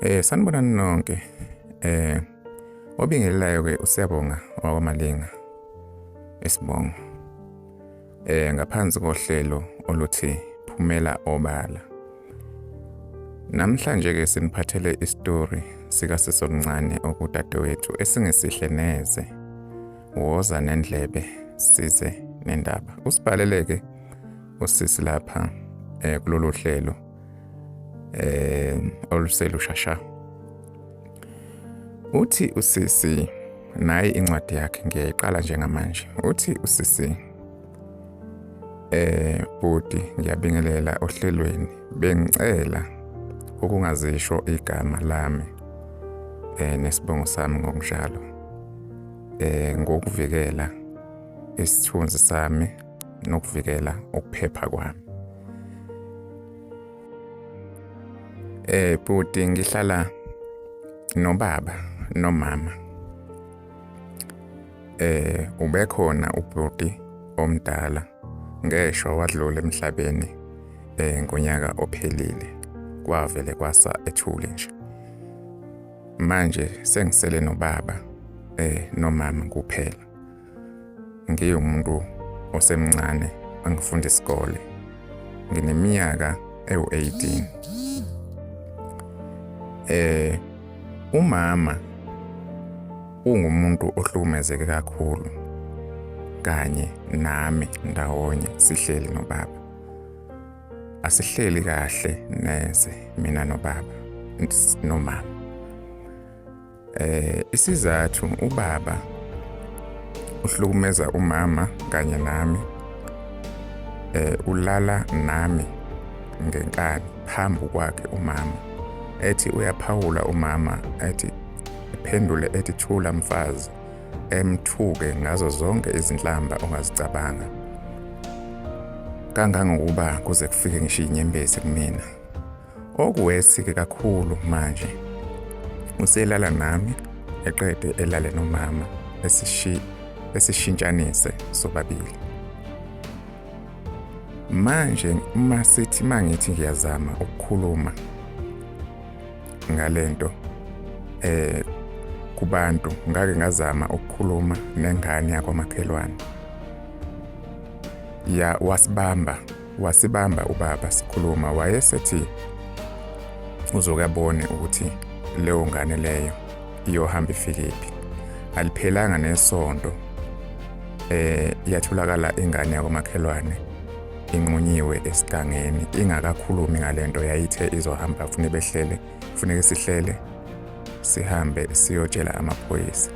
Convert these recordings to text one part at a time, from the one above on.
Eh sanibona nonke. Eh obingelelayo ke usiyabonga wakwamalinga. Esibongo. Eh ngaphansi kohlelo oluthi phumela obala. Namhlanje ke siniphathele istory sika sisomncane okudadewethu esingesihle neze. Woza nendlebe size nendaba. Usibhaleleke usisi lapha eh kulolu hlelo. eh oluselushasha uthi usisi nayi incwadi yakhe ngiyayiqala njengamanje uthi usisi eh bhuti ngiyabingelela ohlelweni bengicela ukungazisho igama lami eh nesibongo sami ngokunjalo eh ngokuvikela isithunzi sami nokuvikela ukuphepha kwami eh bhuti ngihlala nobaba nomama eh ubekhona ubhuti omdala ngeshwa wadlula emhlabeni eh ngonyaka ophelile kwavele kwasa ethule nje manje sengisele nobaba eh nomama kuphela ngiwumuntu osemncane angifunda isikole ngineminyaka ewu-18 eh umama ungumuntu ohlukumezeke kakhulu kanye nami ndawonye sihleli nobaba asihleli kahle neze mina nobaba nomama Eh isizathu ubaba uhlukumeza umama kanye nami eh ulala nami ngenkani phambi kwakhe umama ethi uyaphawula umama ethi iphendule ethi thula mfazi emthuke ngazo zonke izinhlamba ongazicabanga kangangokuba kuze kufike ngishiye inyembezi kumina Okuwesike kakhulu manje uselala nami eqede elale nomama esishintshanise sobabili. Manje uma sithi mangithi ngiyazama ukukhuluma ngalento eh kubantu ngake ngazama ukukhuluma nengane yakwamakhelwane ya wasibamba Wasibamba ubaba sikhuluma wayesethi uzoke abone ukuthi leyo ngane leyo iyohamba ifikephi. Aliphelanga nesonto eh yatholakala ingane yakomakhelwane inqunyiwe esigangeni ingakakhulumi ngalento yayithe izohamba fune behlele kufuneka sihlele sihambe siyotshela amaphoyisa.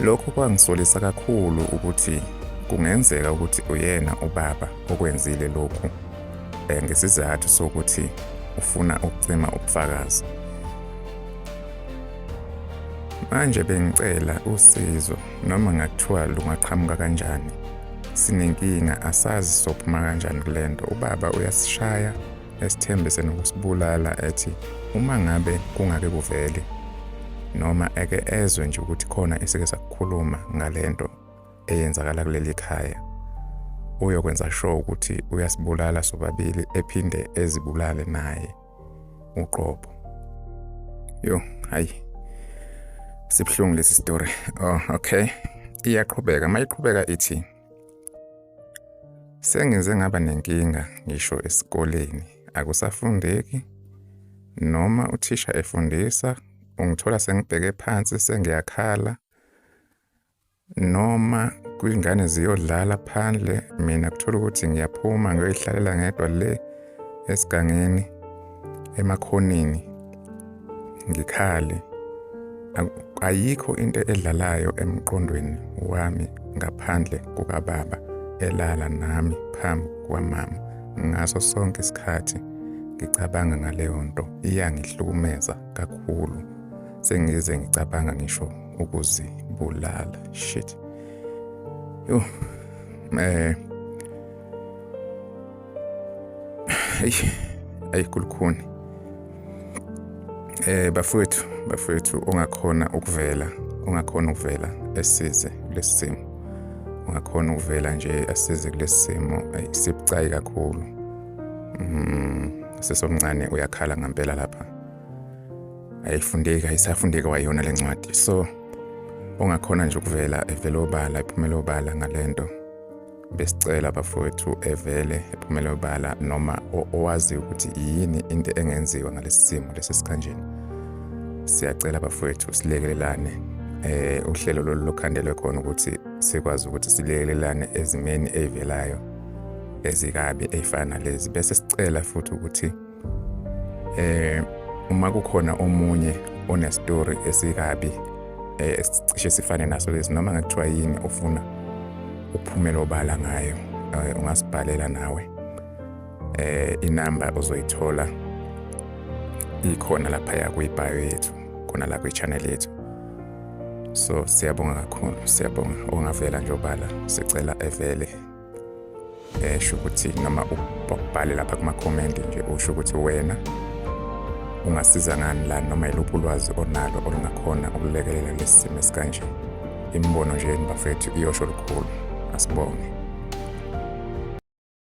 Lokhu kwangisolisa kakhulu ukuthi kungenzeka ukuthi uyena ubaba okwenzile lokhu eh, ngesizathu sokuthi ufuna ukucima ubufakazi. Manje bengicela usizo. Noma ngathiwa lungaqhamuka kanjani, sinenkinga asazi sophuma kanjani kule nto. Ubaba uyasishaya esithembise nokusibulala ethi uma ngabe kungake kuvele noma eke ezwe nje ukuthi khona esike sakukhuluma ngale nto eyenzakala kuleli khaya uyokwenza sure ukuthi uyasibulala sobabili ephinde ezibulale naye uqobo yo hayi sibuhlungu lesi story oh okay iyaqhubeka mayiqhubeka ithi sengenze ngaba nenkinga ngisho esikoleni akusafundeki noma uthisha efundisa ungithola sengibheke phansi sengiyakhala noma kwingane ziyodlala phandle mina kuthola ukuthi ngiyaphuma ngiyoyihlalela ngedwa le esigangeni emakhoneni ngikhale ayikho into edlalayo emqondweni wami ngaphandle kukababa elala nami phambi kwamama ngaso sonke isikhathi ngicabanga ngaleyo nto iyangihlukumeza kakhulu sengize ngicabanga ngisho ukuzibulala shit yo eh ayi kulukhuni eh bafowethu bafowethu ongakhona ukuvela ongakhona ukuvela esize lesimo ongakhona ukuvela nje asize kulesimo sibucayi kakhulu mm sesomncane uyakhala ngempela lapha ayifundeki ayisafundeki wayona le ncwadi so ongakhona nje ukuvela evele obala ephumela obala ngale nto besicela bafowethu evele ephumela obala noma owazi ukuthi yini into engenziwa ngalesi simo lesi sikhanjeni siyacela bafowethu silekelelane eh uhlelo lolu lokhandelwe khona ukuthi sikwazi ukuthi silekelelane ezimeni eyivelayo ezikabi eyifana lezi bese sicela futhi ukuthi eh uma kukhona omunye onestory esikabi eh cishe sifane naso lesi noma ngathiwa yini ofuna ukuphumela obala ngayo eh, ungasibhalela nawe eh inamba uzoyithola ikhona lapha ya kwibayo yethu khona la kwichannel yethu so siyabonga kakhulu siyabonga ongavela nje obala sicela evele esho ukuthi noma ubhale lapha kumakhomenti nje usho ukuthi wena ungasiza ngani la noma yiluphi ulwazi onalo olungakhona ukulekelela lesi simo esikanje imibono nje bafethu iyosho lukhulu asibonge